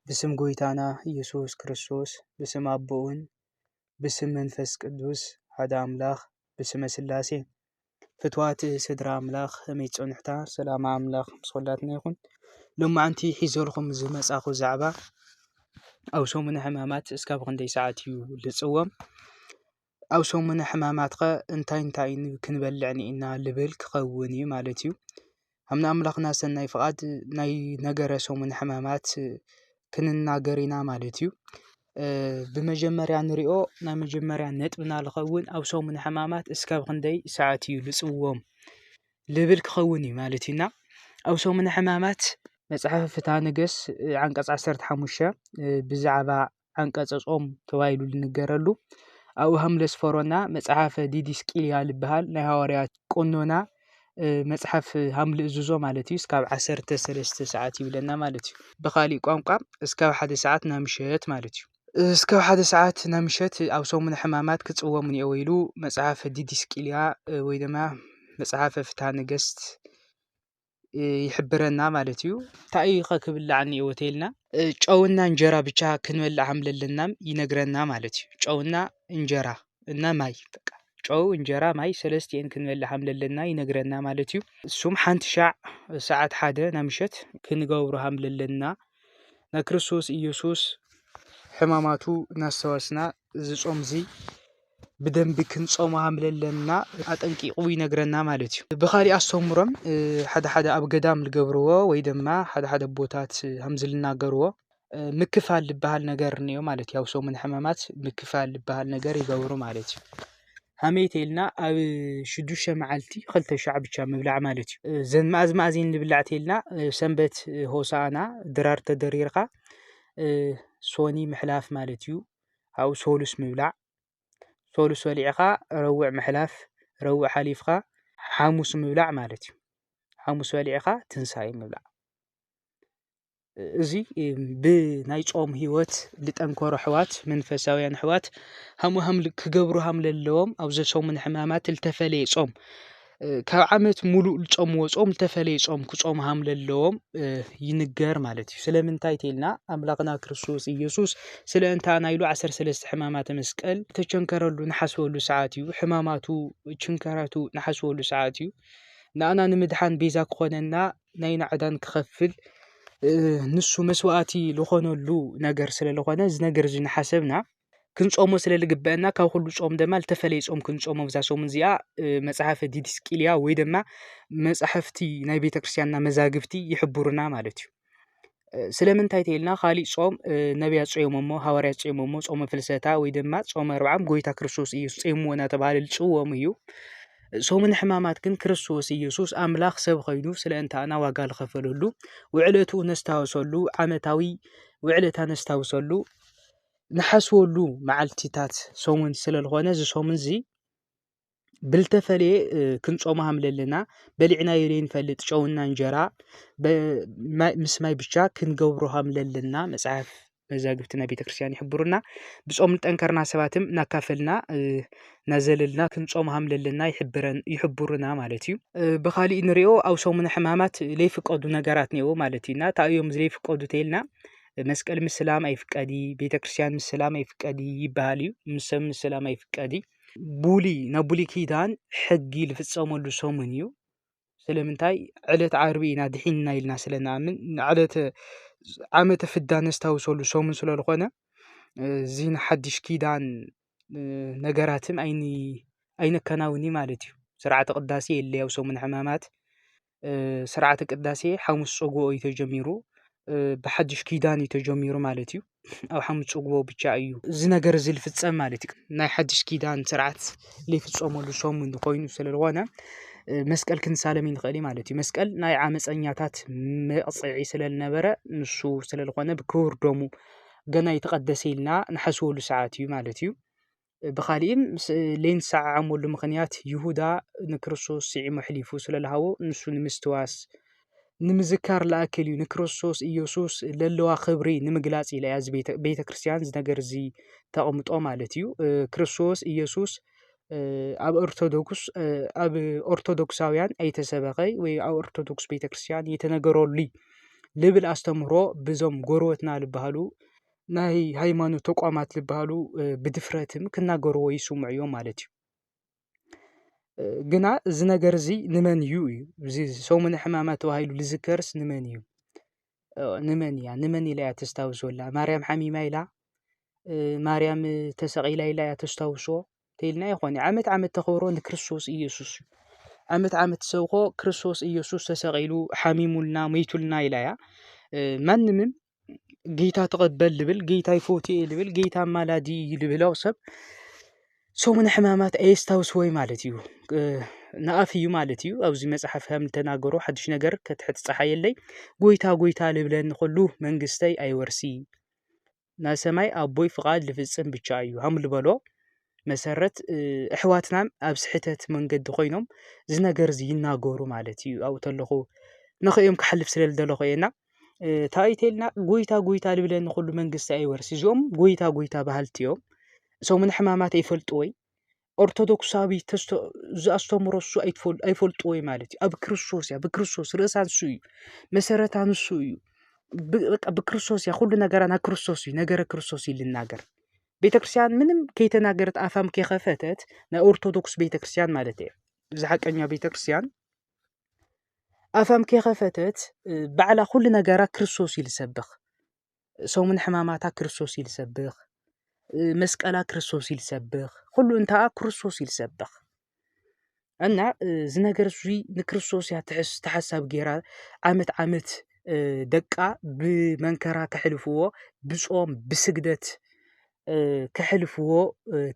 ብስም ጎይታና ኢየሱስ ክርስቶስ ብስም ኣቦኡን ብስም መንፈስ ቅዱስ ሓደ ኣምላኽ ብስመ ስላሴ ፍትዋት ስድራ ኣምላኽ ከመይ ጸኑሕታ ሰላም ኣምላኽ ምስ ኩላትና ይኹን ሎማዓንቲ ሒዘልኩም ዝመጻኹ ዛዕባ ኣብ ሰሙነ ሕማማት እስካብ ክንደይ ሰዓት እዩ ልጽዎም ኣብ ሰሙነ ሕማማት ከ እንታይ እንታይ ክንበልዕ እኒኤና ልብል ክኸውን እዩ ማለት እዩ። ከም ናይ ኣምላኽና ሰናይ ፍቓድ ናይ ነገረ ሰሙነ ሕማማት ክንናገር ኢና ማለት እዩ። ብመጀመርያ ንሪኦ ናይ መጀመርያ ነጥብና ዝኸውን ኣብ ሰሙነ ሕማማት እስካብ ክንደይ ሰዓት እዩ ዝጽወም ልብል ክኸውን እዩ ማለት እዩ። እና ኣብ ሰሙነ ሕማማት መጽሓፈ ፍትሃ ነገስት ዓንቀጽ ዓሰርተ ሓሙሽተ ብዛዕባ ዓንቀጸ ጾም ተባሂሉ ዝንገረሉ ኣብኡ ሃምለስ ፈሮና መጽሓፈ ዲዲስቅልያ ዝበሃል ናይ ሃዋርያት ቆኖና መጽሓፍ ሃምሊ እዝዞ ማለት እዩ እስካብ ዓሰርተ ሰለስተ ሰዓት ይብለና ማለት እዩ ብካሊእ ቋንቋ እስካብ ሓደ ሰዓት ናምሸት ማለት እዩ እስካብ ሓደ ሰዓት ናምሸት ኣብ ሰሙነ ሕማማት ክፅወሙ እኒኦ ኢሉ መፅሓፈ ዲዲስቅልያ ወይ ድማ መፅሓፈ ፍትሃ ነገስት ይሕብረና ማለት እዩ። ታይ እዩ'ከ ክብላዕ እንሄዎ ተይልና ጨው እና እንጀራ ብቻ ክንበልዕ ሃም ለለናም ይነግረና ማለት እዩ። ጨው እና እንጀራ እና ማይ በቃ ጨው እንጀራ ማይ ሰለስቲኤን ክንበልዕ ሃም ለለና ይነግረና ማለት እዩ። እሱም ሓንቲ ሻዕ ሰዓት ሓደ ናይ ምሸት ክንገብሮ ሃም ለለና ናይ ክርስቶስ ኢየሱስ ሕማማቱ እናስተዋስና እዚ ጾም እዚ ብደንቢ ክንጾም ከም ዘለና ኣጠንቂቑ ይነግረና ማለት እዩ። ብኻሊእ ኣስተምህሮም ሓደ ሓደ ኣብ ገዳም ዝገብርዎ ወይ ድማ ሓደ ሓደ ኣቦታት ከምዚ ዝናገርዎ ምክፋል ዝበሃል ነገር እኒኦ ማለት እዩ። ኣብ ሰሙን ሕማማት ምክፋል ዝበሃል ነገር ይገብሩ ማለት እዩ። ከመይ ተይልና ኣብ ሽዱሽተ መዓልቲ ክልተ ሻዕ ብቻ ምብላዕ ማለት እዩ። እዘን መኣዝ መኣዝ እየን ዝብላዕ ተይልና ሰንበት ሆሳእና ድራር ተደሪርካ ሶኒ ምሕላፍ ማለት እዩ። ኣብኡ ሰሉስ ምብላዕ፣ ሰሉስ በሊዕኻ ረቡዕ ምሕላፍ፣ ረቡዕ ሓሊፍካ ሓሙስ ምብላዕ ማለት እዩ። ሓሙስ በሊዕኻ ትንሳኤ ምብላዕ። እዚ ብናይ ጾም ህይወት ዝጠንከሩ ኣሕዋት መንፈሳውያን ኣሕዋት ሃምሃም ክገብሩ ሃም ለለዎም ኣብ ዘሰሙን ሕማማት ዝተፈለየ ጾም ካብ ዓመት ሙሉእ ልጾም ወጾም ልተፈለየ ጾም ክጾም ሃም ለለዎም ይንገር ማለት እዩ ስለምንታይ ተልና ኣምላኽና ክርስቶስ ኢየሱስ ስለ እንታ ናይሉ ዓሠር ሠለስተ ሕማማተ መስቀል ተቸንከረሉ ንሓስበሉ ሰዓት እዩ ሕማማቱ ችንከራቱ ንሓስበሉ ሰዓት እዩ ንኣና ንምድኃን ቤዛ ክኾነና ናይ ናዕዳን ክኸፍል ንሱ መሥዋዕቲ ልኾነሉ ነገር ስለ ልኾነ ዝነገር እዙይ ንሓሰብና ክንጾሞ ስለ ዝግበአና ካብ ኩሉ ጾም ድማ ዝተፈለየ ጾም ክንጾሞ ብዛ ሰሙን እዚኣ መጽሓፈ ዲድስቅልያ ወይ ድማ መጻሕፍቲ ናይ ቤተ ክርስቲያንና መዛግብቲ ይሕብሩና ማለት እዩ ስለምንታይ ተይልና ካሊእ ጾም ነቢያ ጾሞ እሞ ሃዋርያ ጾሞ እሞ ጾመ ፍልሰታ ወይ ድማ ጾመ ኣርብዓም ጎይታ ክርስቶስ እዩ ጾምዎ እናተባሃለ ዝጽወሙ እዩ ሰሙን ሕማማት ግን ክርስቶስ ኢየሱስ ኣምላኽ ሰብ ኸይኑ ስለ እንታና ዋጋ ዝኸፈለሉ ውዕለቱ ነስታውሰሉ ዓመታዊ ውዕለታ ነስታውሰሉ ንሓስበሉ መዓልቲታት ሰሙን ስለ ዝኾነ እዚ ሰሙን እዚ ብልተፈለየ ክንጾሙ ሃም ለለና በሊዕናዮ ዘይንፈልጥ ጨውና እንጀራ ምስ ማይ ብቻ ክንገብሮ ሃም ለለና መጽሓፍ መዛግብትና ቤተ ክርስቲያን ይሕብሩና ብጾም ንጠንከርና ሰባትም እናካፈልና ናዘለልና ክንጾሙ ሃም ለለና ይሕብሩና ማለት እዩ ብኻሊእ ንሪኦ ኣብ ሰሙነ ሕማማት ዘይፍቀዱ ነገራት ነይሩ ማለት እዩና እንታይ እዮም ዘይፍቀዱ ተይልና መስቀል ምስ ሰላም ኣይፍቀድ እዪ ቤተ ክርስትያን ምስ ሰላም ኣይፍቀድ እዪ ይበሃል እዩ ምስ ሰብ ምስ ሰላም ኣይፍቀድ እዪ ቡሊ ናብ ቡሊ ኪዳን ሕጊ ዝፍጸመሉ ሰሙን እዩ ስለምንታይ ዕለት ዓርቢ ኢና ድሒንና ኢልና ስለ ንኣምን ንዕለተ ዓመተ ፍዳ ነስታውሰሉ ሰሙን ስለ ዝኾነ እዚ ንሓድሽ ኪዳን ነገራትን ኣይኒ ኣይነከናውንይ ማለት እዩ ስርዓተ ቅዳሴ የለይ ኣብ ሰሙነ ሕማማት ስርዓተ ቅዳሴ ሓሙስ ፀጉኡ እዩ ተጀሚሩ ብሓዱሽ ኪዳን እዩ ተጀሚሩ ማለት እዩ ኣብ ሓሙስ ፀጉኡ ብቻ እዩ እዚ ነገር እዚ ዝፍፀም ማለት እዩ ናይ ሓዱሽ ኪዳን ስርዓት ዝፍፀመሉ ሰሙን ኮይኑ ስለዝኾነ መስቀል ክንሳለም ንኽእል ኢና ማለት እዩ መስቀል ናይ ዓመፀኛታት መቕፅዒ ስለዝነበረ ንሱ ስለዝኾነ ብክቡር ደሙ ገና ኣይተቐደሰ ኢልና ንሓስበሉ ሰዓት እዩ ማለት እዩ። ብኻሊእን ለይንሰዓዓመሉ ምኽንያት ይሁዳ ንክርስቶስ ስዒሙ ኣሕሊፉ ስለ ልሃቦ ንሱ ንምስትዋስ ንምዝካር ልኣክል እዩ ንክርስቶስ ኢየሱስ ለለዋ ክብሪ ንምግላጽ ኢለ እያ እዚ ቤተ ክርስቲያን ዝነገር እዚ ተቕምጦ ማለት እዩ ክርስቶስ ኢየሱስ ኣብ ኦርቶዶክስ ኣብ ኦርቶዶክሳውያን ኣይተሰበኸይ ወይ ኣብ ኦርቶዶክስ ቤተ ክርስቲያን የተነገረሉይ ልብል ኣስተምህሮ ብዞም ጎረበትና ዝበሃሉ ናይ ሃይማኖት ተቋማት ዝበሃሉ ብድፍረት ክናገርዎ ይስምዑ እዮም ማለት እዩ። ግና እዚ ነገር እዚ ንመን እዩ እዩ እዚ ሰሙነ ሕማማት ተባሂሉ ዝዝከርስ ንመን እዩ? ንመን እያ ንመን ኢላ እያ ተስታውሶ ዘላ? ማርያም ሓሚማ ኢላ? ማርያም ተሰቒላ ኢላ እያ ተስታውሶ? እንተይልና ይኾን ዓመት ዓመት ተኽብሮ ንክርስቶስ ኢየሱስ እዩ። ዓመት ዓመት ሰብኮ ክርስቶስ ኢየሱስ ተሰቒሉ ሓሚሙልና መይቱልና ኢላ እያ። ማንምም ጌታ ተቐበል ልብል ጌታ ይፈትይ እየ ልብል ጌታ ኣማላዲ እዩ ልብል ያው ሰብ ሰሙነ ሕማማት ኣየስታውስዎይ ማለት እዩ ንኣፍ እዩ ማለት እዩ ኣብዚ መጽሓፍ ከም ተናገሮ ሓድሽ ነገር ከትሕት ፀሓየለይ ጎይታ ጎይታ ልብለኒ ኸሉ መንግስተይ ኣይወርሲ ናይ ሰማይ ኣቦይ ፍቓድ ልፍጽም ብቻ እዩ ሃም ልበሎ መሰረት ኣሕዋትናን ኣብ ስሕተት መንገዲ ኮይኖም እዚ ነገር እዚ ይናገሩ ማለት እዩ ኣብኡ ተለኹ ንኽኦም ክሓልፍ ስለ ዝደለኹ እየ እና እንታይ እዩ ኢልና ጎይታ ጎይታ ዝብለኒ ኩሉ መንግስቲ ኣይወርስ እዚኦም ጎይታ ጎይታ በሃልቲ እዮም እሶም ንሕማማት ይፈልጡ ወይ ኦርቶዶክሳዊ ተስቶ ዘኣስተምሮ እሱ ኣይፈልጡ ወይ ማለት እዩ ኣብ ክርስቶስ እያ ብክርስቶስ ርእሳ ንሱ እዩ መሰረታ ንሱ እዩ በቃ ብክርስቶስ እያ ኩሉ ነገራ ናብ ክርስቶስ እዩ ነገረ ክርስቶስ እዩ ልናገር ቤተክርስቲያን ምንም ከይተናገረት ኣፋም ከይከፈተት ናይ ኦርቶዶክስ ቤተክርስቲያን ማለት እየ እዚ ሓቀኛ ቤተክርስቲያን ኣፋም ከይከፈተት ባዕላ ኩሉ ነገራ ክርስቶስ እዩ ዝሰብኽ ሰሙን ሕማማታ ክርስቶስ እዩ ዝሰብኽ መስቀላ ክርስቶስ እዩ ዝሰብኽ ኩሉ እንታኣ ክርስቶስ እዩ ዝሰብኽ እና እዚ ነገር እዙይ ንክርስቶስ እያ ትሕስ ተሓሳቢ ገይራ ዓመት ዓመት ደቃ ብመንከራ ከሕልፍዎ ብጾም ብስግደት ከሕልፍዎ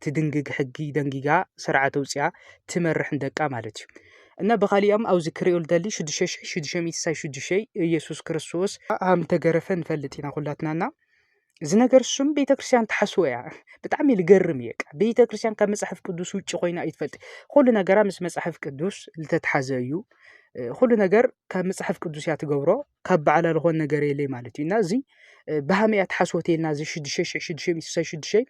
ትድንግግ ሕጊ ደንጊጋ ስርዓት ኣውፅኣ ትመርሕ ንደቃ ማለት እዩ እና ብኻሊኦም ኣብዚ ክሪኦ ልደሊ ሽዱሽተ ሽሕ ሽዱሽተ ሚእቲ ሳይ ሽዱሽተ ኢየሱስ ክርስቶስ ሃም ተገረፈ ንፈልጥ ኢና ኩላትና እና እዚ ነገር ስም ቤተክርስትያን ትሓስቦ እያ ብጣዕሚ ልገርም እየ ቤተክርስትያን ካብ መፅሓፍ ቅዱስ ውጭ ኮይና ኣይትፈልጥ ኩሉ ነገራ ምስ መፅሓፍ ቅዱስ ዝተትሓዘ እዩ ኩሉ ነገር ካብ መፅሓፍ ቅዱስ እያ ትገብሮ ካብ በዓላ ዝኾን ነገር የለይ ማለት እዩ እና እዚ ብሃመ እያ ትሓስቦ ተልና እዚ ሽዱሽተ ሽሕ ሽዱሽተ ሚእቲ ስሳይ ሽዱሽተ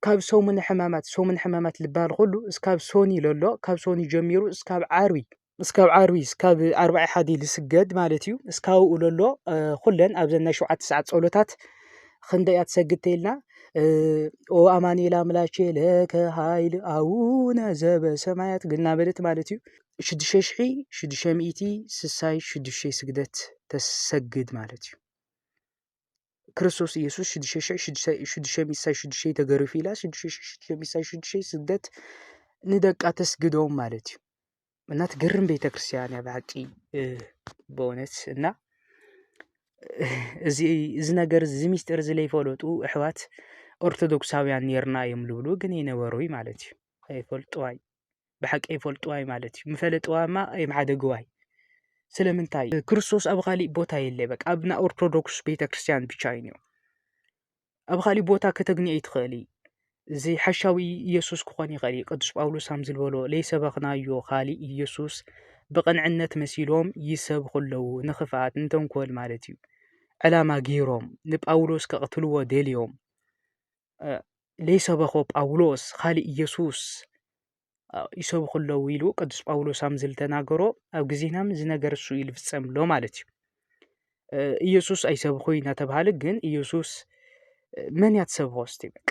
ካብ ሰሙን ሕማማት ሰሙን ሕማማት ልበሃል ኩሉ እስካብ ሶኒ ለሎ ካብ ሶኒ ጀሚሩ እስካብ ዓርቢ እስካብ ዓርቢ እስካብ ኣርባዒ ሓዲ ዝስገድ ማለት እዩ እስካብኡ ለሎ ኩለን ኣብዘን ናይ ሸውዓተ ሰዓት ጸሎታት ክንደይ እያ ትሰግድ ተይልና ኦ ኣማኒኤል ኣምላኬ ለከ ሃይል ኣውነ ዘበ ሰማያት ግና በለት ማለት እዩ ሽዱሽተ ሽሒ ሽዱሽተ ሚእቲ ስሳይ ሽዱሽተ ስግደት ተሰግድ ማለት እዩ ክርስቶስ ኢየሱስ ሽዱሽተ ሽሕ ሽዱሽተ ሚሳይ ሽዱሽተ ተገሪፉ ኢላ ሽዱሽተ ሽሕ ሽዱሽተ ሚሳይ ሽዱሽተ ስደት ንደቃ ተስግዶም ማለት እዩ እና ትገርም ቤተ ክርስቲያን እያ ብሓቂ በእውነት እና እዚ እዚ ነገር እዚ ሚስጢር እዚ ለይፈለጡ ኣሕዋት ኦርቶዶክሳውያን ኔርና እዮም ዝብሉ ግን ይነበሩ ማለት እዩ ኣይፈልጡ ኣይ ብሓቂ ኣይፈልጥዋይ ማለት እዩ ምፈለጥዋ እማ ኣይምሓደግዋይ ስለምንታይ ክርስቶስ ኣብ ካሊእ ቦታ የለ በቃ ኣብ ናይ ኦርቶዶክስ ቤተ ክርስቲያን ብቻ እዩ እኒኦ ኣብ ካሊእ ቦታ ከተግንዮ ይትኽእል እዩ እዚ ሓሻዊ ኢየሱስ ክኾን ይኽእል እዩ ቅዱስ ጳውሎስ ከም ዝበሎ ለይሰበኽናዮ ካሊእ ኢየሱስ ብቕንዕነት መሲሎም ይሰብኹ ኣለዉ ንኽፍኣት ንተንኮል ማለት እዩ ዕላማ ገይሮም ንጳውሎስ ከቕትልዎ ደልዮም ለይሰበኾ ጳውሎስ ኻል ኢየሱስ ይሰብኹ ኣለዉ ኢሉ ቅዱስ ጳውሎስ ኣም ዝልተናገሮ ኣብ ጊዜናም ዝነገር ሱ ኢል ፍጸም ኣሎ ማለት እዩ ኢየሱስ ኣይሰብኹ ናተብሃለ ግን ኢየሱስ መን ያትሰብኾ ስቲበቅ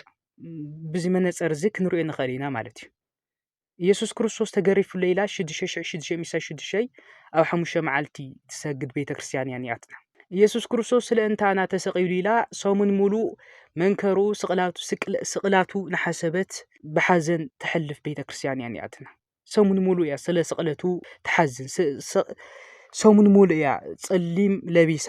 ብዚ መነጸር እዙ ኽንርዮ ንኸል ኢና ማለት እዩ ኢየሱስ ክርስቶስ ተገሪፉለይ ኢላ ሽዱሽተ ሽሕ ሽዱሽተ ሚእቲ ሽዱሽተ ኣብ ሓሙሽተ መዓልቲ ትሰግድ ቤተ ክርስቲያን እያ ኒኣትና ኢየሱስ ክርስቶስ ስለ እንታና ተሰቒሉ ኢላ ሰሙን ሙሉእ መንከሩ ስቕላቱ ስቕላቱ ንሓሰበት ብሓዘን ተሕልፍ ቤተ ክርስቲያን እያ ኒኣትና ሰሙን ሙሉእ እያ ስለ ስቕለቱ ትሓዝን ሰሙን ሙሉእ እያ ጸሊም ለቢሳ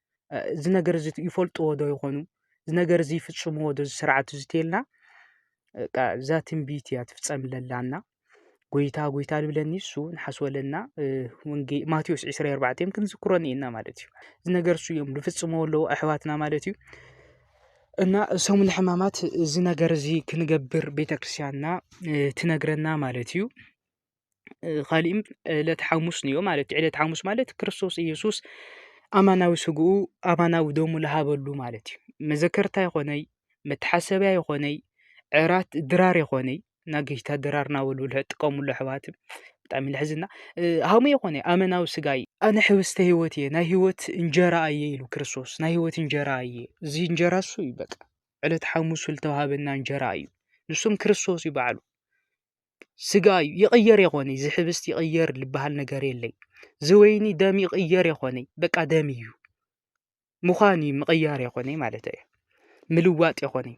እዚ ነገር እዚ ይፈልጥዎ ዶ ይኾኑ? እዚ ነገር እዚ ይፍፅምዎ ዶ እዚ ስርዓት እዚ እንተይልና በቃ እዛ ትንቢት እያ ትፍፀም ዘላ እና ጎይታ ጎይታ ዝብለኒ ንሱ ንሓስቦ ኣለና ማቴዎስ ዕስራን ኣርባዕተን ክንዝክሮ እኒኤና ማለት እዩ። እዚ ነገር እሱ እዮም ዝፍፅምዎ ኣለዉ ኣሕዋትና ማለት እዩ። እና ሰሙነ ሕማማት እዚ ነገር እዚ ክንገብር ቤተ ክርስቲያንና ትነግረና ማለት እዩ። ኻሊእም ዕለተ ሓሙስ ንዮ ማለት ዕለት ሓሙስ ማለት ክርስቶስ ኢየሱስ ኣማናዊ ሥጉኡ ኣማናዊ ደሙ ለሃበሉ ማለት እዩ መዘከርታ ይኾነይ መተሓሰብያ ይኾነይ ዕራት ድራር የኾነይ ናገሽታ ድራር ናበሉ ልጥቀሙሉ ኣሕዋት ብጣዕሚ ለሕዝና ሃሙ የኾነ ኣመናዊ ሥጋይ ኣነ ኅብስተ ሕይወት እየ ናይ ሕይወት እንጀራ እየ ኢሉ ክርስቶስ ናይ ሕይወት እንጀራ እየ እዚ እንጀራ እሱ እዩ በቃ ዕለት ሓሙሱ ልተውሃበና እንጀራ እዩ ንሱም ክርስቶስ እዩ በዓሉ ስጋ እዩ ይቕየር የኾነይ ዝሕብስት ይቕየር ልበሃል ነገር የለይ ዝወይኒ ደም ይቕየር የኾነይ በቃ ደም እዩ ምዃን እዩ ምቕያር የኾነይ ማለት እየ ምልዋጥ የኾነይ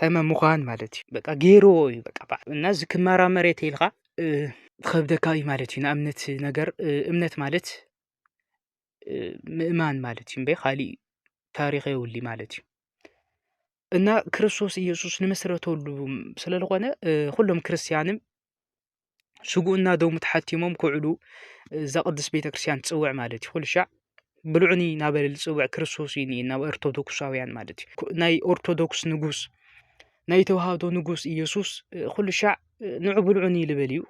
ተመ ምዃን ማለት እዩ በቃ ገይርዎ እዩ በቃ በዕ እና ዝክመራ መሬት ኢልኻ ኸብደካ እዩ ማለት እዩ ንእምነት ነገር እምነት ማለት ምእማን ማለት እዩ እምበይ ኻሊእ ታሪኽ የብሉ ማለት እዩ። እና ክርስቶስ ኢየሱስ ንመስረተሉ ስለ ዝኾነ ኹሎም ክርስትያንም ስጉኡና ደሙ ተሓቲሞም ክውዕሉ እዛ ቅድስት ቤተ ክርስቲያን ትጽውዕ ማለት እዩ። ኩልሻዕ ብልዑኒ ናበለ ዝጽውዕ ክርስቶስ እዩ ናብ ኦርቶዶክሳውያን ማለት እዩ። ናይ ኦርቶዶክስ ንጉስ ናይ ተዋህዶ ንጉስ ኢየሱስ ኩልሻዕ ንዑ ብልዑኒ ልብል እዩ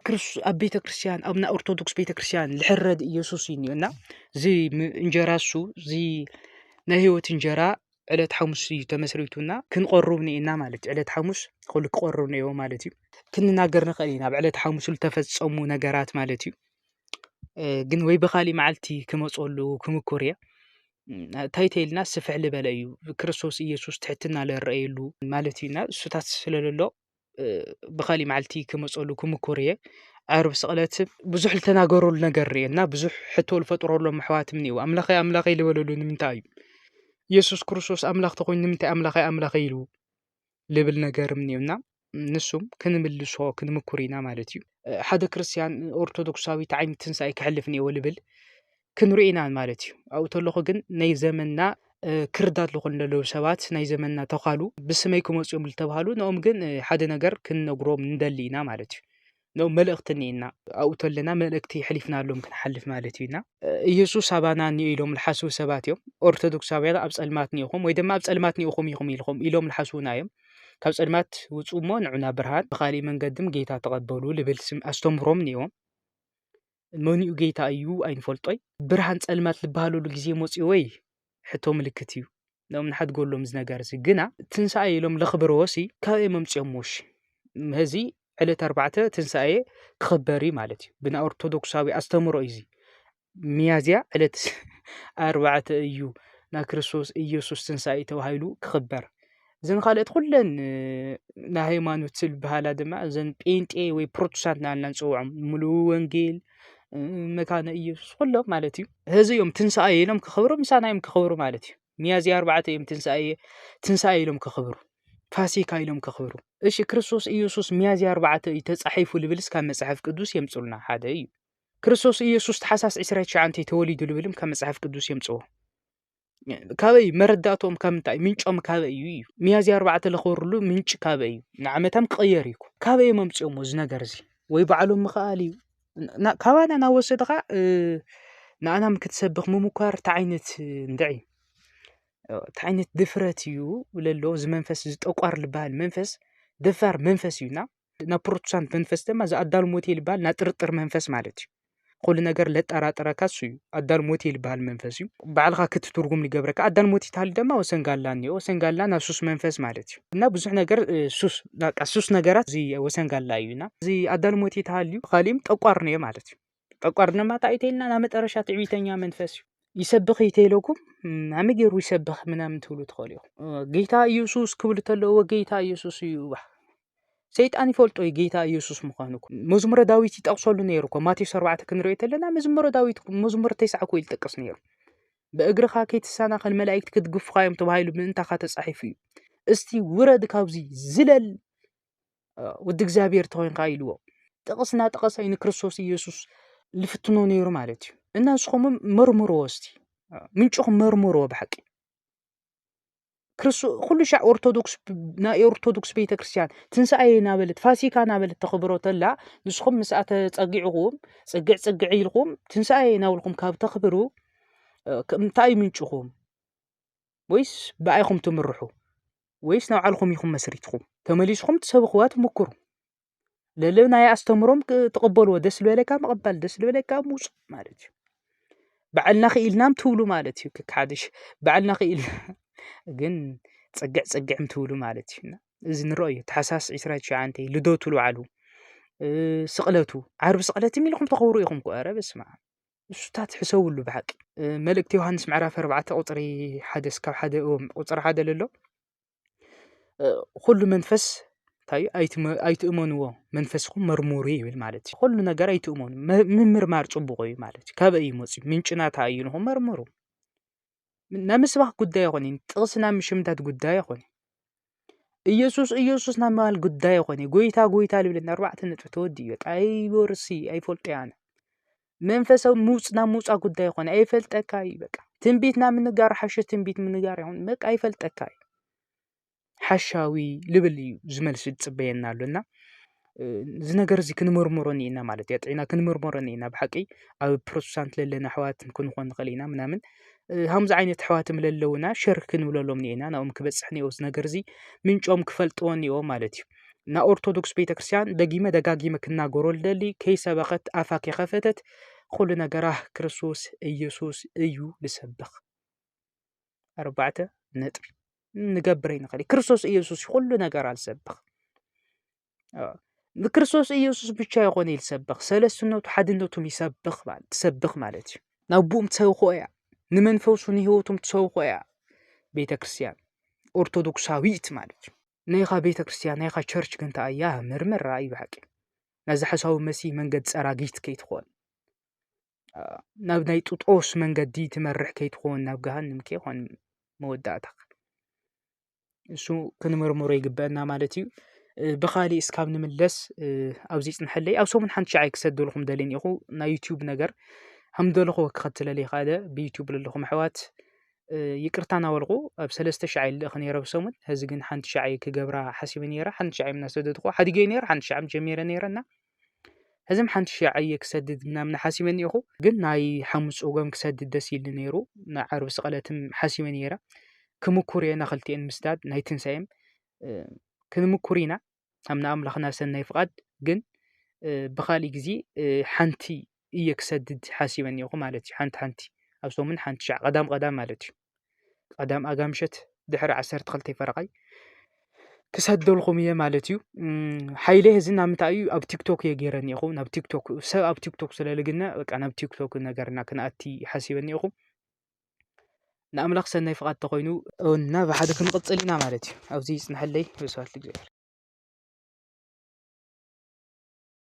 ኣብ ቤተ ክርስቲያን ኣብ ናይ ኦርቶዶክስ ቤተ ክርስቲያን ልሕረድ ኢየሱስ እዩ እኒኦና እዚ እንጀራ እሱ እዚ ናይ ህይወት እንጀራ ዕለት ሓሙስ እዩ ተመስሪቱና ክንቆርብ እኒኤና ማለት እዩ ዕለት ሓሙስ ኹሉ ክቆርብ እኒኤዎ ማለት እዩ ክንናገር ንኽእል ኢና ኣብ ዕለት ሓሙስ ዝተፈፀሙ ነገራት ማለት እዩ ግን ወይ ብኻሊእ መዓልቲ ክመፀሉ ክምኩር እየ እንታይ ተይልና ስፍሕ ልበለ እዩ ክርስቶስ ኢየሱስ ትሕትና ለረእየሉ ማለት እዩና እሱታት ስለለሎ ብካሊእ መዓልቲ ክመፀሉ ክምኩር እየ ዓርብ ስቅለት ብዙሕ ዝተናገረሉ ነገር እኒኦ እና ብዙሕ ሕቶ ዝፈጠረሎም ኣሕዋት እኒአው ኣምላከይ ኣምላከይ ዝበልሉ ንምንታይ እዩ የሱስ ክርስቶስ ኣምላክ እንተኮይኑ ንምንታይ ኣምላከይ ኣምላከይ ኢሉ ዝብል ነገር እኒኦ እና ንሱ ክንምልሶ ክንምኩር ኢና ማለት እዩ ሓደ ክርስትያን ኦርቶዶክሳዊት ዓይነት ትንሳኤ ከሕልፍ እኒአዎ ዝብል ክንሪኢ ኢና ማለት እዩ። ኣብኡ ተለኹ ግን ናይ ዘመንና ክርዳድ ዝኾኑ ዘለዉ ሰባት ናይ ዘመንና ተዃሉ ብስመይ ክመፁ እዮም ዝተባሃሉ ንኦም ግን ሓደ ነገር ክንነግሮም ንደሊ ኢና ማለት እዩ። ንኦም መልእኽቲ እኒኢና ኣብኡ ተለና መልእክቲ የሕሊፍናሎም ክንሓልፍ ማለት እዩ ኢና ኢየሱስ ኣባና እኒኦ ኢሎም ልሓስቡ ሰባት እዮም። ኦርቶዶክሳውያን ኣብ ጸልማት ኒኢኹም ወይ ድማ ኣብ ጸልማት ኒኢኹም ኢኹም ኢልኹም ኢሎም ልሓስቡና እዮም። ካብ ጸልማት ውፁ እሞ ንዑና ብርሃን ብኻሊእ መንገድም ጌታ ተቐበሉ ልብል ስም ኣስተምህሮም ኒኦም መንኡ ጌይታ እዩ ኣይንፈልጦይ ብርሃን ጸልማት ልበሃለሉ ጊዜ ሞጺኡ ወይ ሕቶ ምልክት እዩ ም ንሓድጎሎም ዝነገርሲ ግና ትንሳኣ ኢሎም ለኽብርዎሲ ካብይ መምጽኦም ዎሽ ምህዚ ዕለት ኣርባዕተ ትንሳኤ ክኽበሪ ማለት እዩ ብና ኦርቶዶክሳዊ ኣስተምሮ እዙ ሚያዝያ ዕለት ኣርባዕተ እዩ ና ክርስቶስ ኢየሱስ ትንሣኤ ተባሂሉ ክኽበር እዘን ካልኦት ኩለን ናይ ሃይማኖት ዝበሃላ ድማ እዘን ጴንጤ ወይ ፕሮቴስታንት እናበልና ንፅውዖም ሙሉ ወንጌል መካነ እየሱስ ኩሎም ማለት እዩ ሐዚ እዮም ትንሳኤ ኢሎም ከኽብሩ ምሳና እዮም ከኽብሩ ማለት እዩ ሚያዝያ ኣርባዕተ እዮም ትንሳኤ ትንሳኤ ኢሎም ከኽብሩ ፋሲካ ኢሎም ከኽብሩ እሺ ክርስቶስ ኢየሱስ ሚያዝያ ኣርባዕተ እዩ ተፃሒፉ ልብልስ ካብ መፅሓፍ ቅዱስ የምፅሉና ሓደ እዩ ክርስቶስ ኢየሱስ ተሓሳስ 29 ተወሊዱ ልብልም ካብ መፅሓፍ ቅዱስ የምፅዎ ካበይ መረዳእትኦም ካብ ምንታይ ምንጮም ካበይ እዩ እዩ ሚያዝያ ኣርባዕተ ለኽበርሉ ምንጪ ካበይ እዩ ንዓመታም ክቕየር እዩ ካበይ እዮም ኣምፂኦሞ እዚ ነገር እዚ ወይ ባዕሎም ምኽኣል እዩ ካባና እናወሰድኻ ንኣናም ክትሰብኽ ምሙኳር እንታይ ዓይነት እንድዒ እንታይ ዓይነት ድፍረት እዩ ለሎ እዚ መንፈስ እዚ ጠቋር ልበሃል መንፈስ ደፋር መንፈስ እዩና። ናብ ፕሮቴስታንት መንፈስ ድማ እዚ ኣዳል ሞቴል ዝበሃል ናይ ጥርጥር መንፈስ ማለት እዩ። ኩሉ ነገር ለጠራጥረካ እሱ እዩ። ኣዳል ሞቴል ዝበሃል መንፈስ እዩ። ባዕልኻ ክትትርጉም ዝገብረካ ኣዳል ሞቴል ተሃሊ ድማ ወሰን ጋላ እኒኦ። ወሰን ጋላ ናብ ሱስ መንፈስ ማለት እዩ እና ብዙሕ ነገር እ፣ ሱስ በቃ ሱስ ነገራት እዚ ወሰን ጋላ እዩ እና እዚ ኣዳል ሞቴል ተሃልዩ ካሊእም ጠቋር እኒኦ ማለት እዩ። ጠቋር ድማ እንታይ እዩ ተይልና ናብ መጠረሻ ትዕቢተኛ መንፈስ እዩ ይሰብኽ እዩ ተይለኩም ናመ ገይሩ ይሰብኽ ምናምን ትብሉ ትኽእሉ ኢኹም ጌታ ኢየሱስ ክብሉ ተለዎ ጌታ ኢየሱስ እዩ ሰይጣን ይፈልጦ እዩ ጌታ ኢየሱስ ምዃኑ መዝሙረ ዳዊት ይጠቕሰሉ ነይሩ እኮ ማቴዎስ ኣርባዕተ ክንሪኦ ተለና መዝሙረ ዳዊት መዝሙር ተስዓ እኮ ይጠቅስ ነይሩ ብእግርኻ ከይትሰናኸል መላእክቲ ክትግፍኻ እዮም ተባሂሉ ምእንታኻ ተጻሒፉ እዩ እስቲ ውረድ ካብዚ ዝለል ወዲ እግዚኣብሔር ተኾይንካ ኢልዎ ጥቕስ እናጠቐሰ ንክርስቶስ ኢየሱስ ልፍትኖ ነይሩ ማለት እዩ እና ንስኹም መርምርዎ እስቲ ምንጭኹም መርምርዎ ብሓቂ ኩሉ ሻዕ ኦርቶዶክስ ናይ ኦርቶዶክስ ቤተ ክርስቲያን ትንሳኤ ናበለት ፋሲካ ናበለት ተኽብሮ ተላ ንስኹም ምስኣ ተፀጊዕኹም ፅግዕ ፅግዕ ኢልኩም ትንሳኤ ናብልኩም ካብ ተኽብሩ እንታይ ምንጭኹም ወይስ ብኣይኹም ትምርሑ ወይስ ናብ ዓልኹም ኢኹም መስሪትኹም ተመሊስኹም ትሰብኽዋ ትምክሩ ለለ ናይ ኣስተምሮም ትቕበልዎ ደስ ዝበለካ ምቕባል ደስ ዝበለካ ምውፅ ማለት እዩ ባዕልና ክኢልናም ትብሉ ማለት እዩ ክካሓደሽ ባዕልና ክኢል ግን ፅግዕ ፅግዕም ትብሉ ማለት እዩ እዚ ንረኦ እዩ ተሓሳስ ዕስራ ትሽዓንተ ልደቱ ልባዕሉ ስቕለቱ ዓርቢ ስቕለት ኢልኩም ተኽብሩ ኢኹም ኮ ኧረ በስመኣም ንሱታት ሕሰብሉ ብሓቂ መልእክቲ ዮሃንስ ምዕራፍ ኣርባዕተ ቁፅሪ ሓደ እስካብ ሓደ ቁፅሪ ሓደ ለሎ ኩሉ መንፈስ እንታይ እዩ ኣይትእመንዎ መንፈስኩም መርምሩ ይብል ማለት እዩ ኩሉ ነገር ኣይትእመኑ ምምርማር ፅቡቕ እዩ ማለት እዩ ካበይ እዩ መፂኡ ምንጩ ናታ እዩ ኢልኩም መርምሩ ናይ ምስባኽ ጉዳይ ኣይኮነን ጥቕሲ ናይ ምሽምዳድ ጉዳይ ኣይኮነን ኢየሱስ ኢየሱስ ናይ ምባል ጉዳይ ኣይኮነ ጎይታ ጎይታ ልብለኒ ኣርባዕተ ነጥቢ ተወዲ እዩ ኣይወርሲ ኣይፈልጦ ያነ መንፈሳዊ ምውፅ ናብ ምውፃ ጉዳይ ኣይኮነ ኣይፈልጠካ እዩ በቃ ትንቢት ናብ ምንጋር ሓሸ ትንቢት ምንጋር ይኹን በቃ ኣይፈልጠካ እዩ ሓሻዊ ልብል እዩ ዝመልሲ ዝጽበየና ኣሎ እና እዚ ነገር እዚ ክንምርምሮ እኒኤና ማለት እዩ። ኣጥዒና ክንምርምሮ እኒኤና ብሓቂ ኣብ ፕሮቴስታንት ለለና ኣሕዋት ክንኾን ንኽእል ኢና ምናምን ከምዚ ዓይነት ኣሕዋት ለለውና ሸር ክንብለሎም እኒኤና ናብኦም ክበጽሕ እኒኦ እዚ ነገር እዚ ምንጮም ክፈልጥዎ እኒኦ ማለት እዩ። ናብ ኦርቶዶክስ ቤተክርስትያን ደጊመ ደጋጊመ ክናገሮ ልደሊ ከይሰበኸት ኣፋ ከይኸፈተት ኩሉ ነገራ ክርስቶስ ኢየሱስ እዩ ልሰብኽ። ኣርባዕተ ነጥቢ ንገብር ይንኸል ክርስቶስ ኢየሱስ ኩሉ ነገር ኣልሰብኽ ንክርስቶስ ኢየሱስ ብቻ ይኾነ ይልሰብኽ ሰለስትነቱ ሓድነቱም ይሰብኽ ትሰብኽ ማለት እዩ ናብኡም ትሰብኾ እያ ንመንፈሱ ንህይወቱም ትሰብኾ እያ ቤተ ክርስትያን ኦርቶዶክሳዊት ማለት እዩ ናይኻ ቤተ ክርስትያን ናይኻ ቸርች ግን ተኣያ ምርምር ራእዩ ብሓቂ ነዚ ሓሳዊ መሲ መንገድ ጸራጊት ከይትኾን ናብ ናይ ጥጦስ መንገዲ ትመርሕ ከይትኾን ናብ ገሃንም ከይኾን መወዳእታኻ እሱ ክንምርምሮ ይግበአና ማለት እዩ ብኻሊ እስካብ ንምለስ ኣብዘይ ጽንሐለይ ኣብ ሰሙን ሓንቲ ሸዓይ ክሰደልኹም ደልን ኢኹ ናይ ዩትዩብ ነገር ሃምደለኹ ክኸትለለ ይኻደ ብዩትዩብ ለለኹም ኣሕዋት ይቅርታ ናበልኹ ኣብ ሰለስተ ሸዓ ልእኽ ነረ ብ ሰሙን ሕዚ ግን ሓንቲ ሸዓይ ክገብራ ሓሲበ ነረ ሓንቲ ሸዓ ምናሰደድኹ ሓዲገይ ነር ሓንቲ ሸዓ ጀሚረ ነረ እና ሕዝም ሓንቲ ሽ ዓየ ክሰድድ ምናምን ሓሲበኒ ኢኹ ግን ናይ ሓሙስ ጾጎም ክሰድድ ደስ ኢሉ ነይሩ ንዓርቢ ስቐለትም ሓሲበ ነይረ ክምኩር እየ ናኽልቲኤን ምስዳድ ናይ ትንሳኤም ክንምኩር ኢና ኣብ ንኣምላኽና ሰናይ ፍቓድ ግን ብኻልእ ጊዜ ሓንቲ እየ ክሰድድ ሓሲበኒ ኢኹ ማለት ሓንቲ ሓንቲ ኣብ ሶሙን ሓንቲ ሸዕ ቀዳም ቀዳም ማለት እዩ። ቀዳም ኣጋምሸት ድሕሪ ዓሰርተ ክልተ ፈረቓይ ክሰደልኹም እየ ማለት እዩ ሓይለ እዚ ናብ ምንታይ እዩ ኣብ ቲክቶክ እየ ገይረ እኒኹ ናብ ቲክቶክ ሰብ ኣብ ቲክቶክ ስለ ልግነ በቃ ናብ ቲክቶክ ነገርና ክንኣቲ ሓሲበ እኒኹ ንኣምላኽ ሰናይ ፍቓድ ተኾይኑ እና ብሓደ ክንቕፅል ኢና ማለት እዩ ኣብዚ ይፅንሐለይ ብስባት እግዚኣብሔር